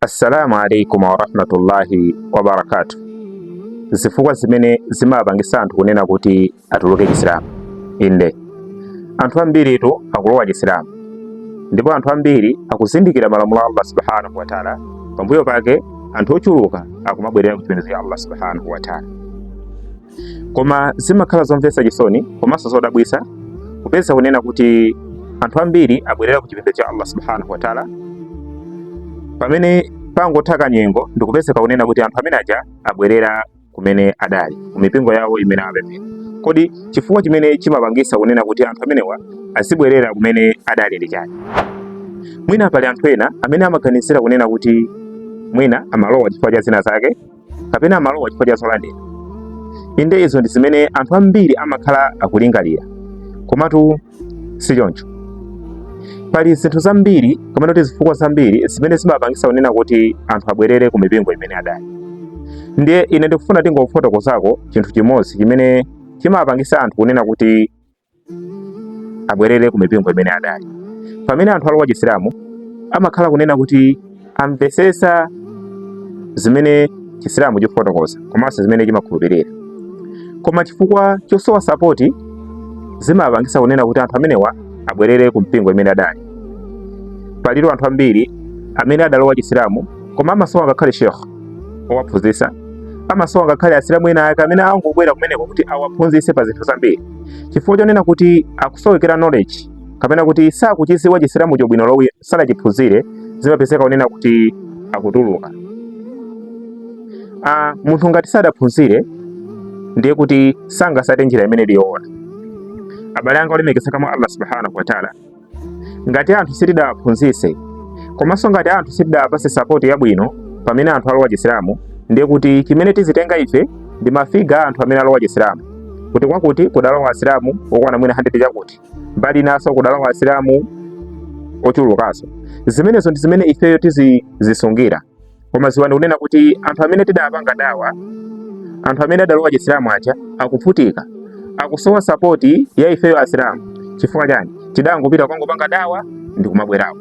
assalamu alaikum warahmatullahi wabarakatu zifukwa zimene zimapangisa anthu kunena kuti atuluke chisilamu inde anthu ambiritu akulowa chisilamu ndipo anthu ambiri akuzindikira malamulo a allah subhanahu wataala pambuyo pake anthu ochuluka akumabwerera kuchipembedzo cha allah subhanahu wataala Koma zimakhala zomvetsa chisoni komanso zodabwisa kupeza kunena kuti anthu ambiri abwerera ku chipembedzo cha Allah subhanahu wa ta'ala pamene pangotha kanyengo ndikupezeka kunena kuti anthu amene aja abwerera kumene adali ku mipingo yawo imene apemphera. Kodi chifukwa chimene chimapangisa kunena kuti anthu amenewa azibwerera kumene adali ndi chani? Mwina pali anthu ena amene amaganizira kunena kuti mwina amalowa chifukwa cha zina zake kapena amalowa chifukwa cha zolandira. Inde, izo ndi zimene anthu ambiri amakhala akulingalira, komatu si choncho. Pali zinthu zambiri kapena kuti zifukwa zambiri zimene zimapangisa kunena kuti anthu abwerere ku mipingo imene adali. Ndiye ine ndikufuna tingofotokozako chinthu chimodzi chimene chimapangisa anthu kunena kuti abwerere ku mipingo imene adali. Pamene anthu alowa Chisilamu amakhala kunena kuti amvesesa zimene Chisilamu chikufotokoza komanso zimene chimakhulupirira, koma chifukwa chosowa sapoti zimapangisa kunena kuti anthu amenewa abwerere ku mipingo imene adali. Palitu anthu ambiri amene adalowa Chisilamu koma amasowa ngakhale sheikh owaphunzisa amasowa ngakhale asilamu ena ake amene angobwera kumeneko kuti awaphunzise pa zinthu zambiri. chifukwa chonena kuti akusowekera knowledge kapena kuti sakuchiziwa chisilamucho bwino olo sadachiphunzire zimapezeka kunena kuti akutuluka munthu ngati sadaphunzire ndiye kuti sangasate njira imene ili yoona abale anga olemekezeka mwa allah subhanahu wataala Ngati anthu sitidawaphunzise komanso ngati anthu sitidawapase sapoti yabwino pamene anthu alowa Chisilamu, ndiye kuti chimene tizitenga ife ndi mafiga a anthu amene alowa Chisilamu kuti kwakuti kudalowa Asilamu okwana mwina 100 chakuti mbali inaso kudalowa Asilamu ochulukaso. Zimenezo ndi zimene ifeyo tizizisungira. koma ziwani kunena kuti anthu amene tidapanga dawa anthu amene adalowa chisilamu aja akuvutika akusowa sapoti ya ifeyo asilamu chifukwa chani tidangopita kwangopanga dawa ndikumabwerako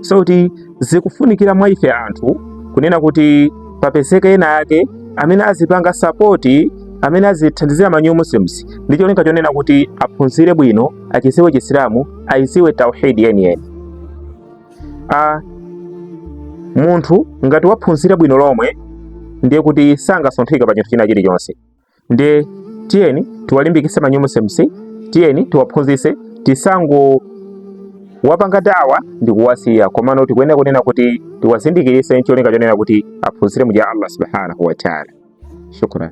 so kuti zikufunikira mwa ife anthu kunena kuti papezeke ena ake amene azipanga sapoti amene azithandizira ma new muslims ndi cholinga chonena kuti aphunzire bwino achiziwe chisilamu ayiziwe tauhidi yeniyeni a munthu ngati waphunzira bwino lomwe ndiye kuti sangasunthike pa chinthu china chilichonse ndiye tiyeni tiwalimbikitse ma new Muslims tiyeni tiwaphunzitse tisangowapanga dawa ndi kuwasiya komano tikuyenera kunena kuti tiwazindikiritse ncholinga chonena kuti aphunzire muja Allah subhanahu wa ta'ala shukran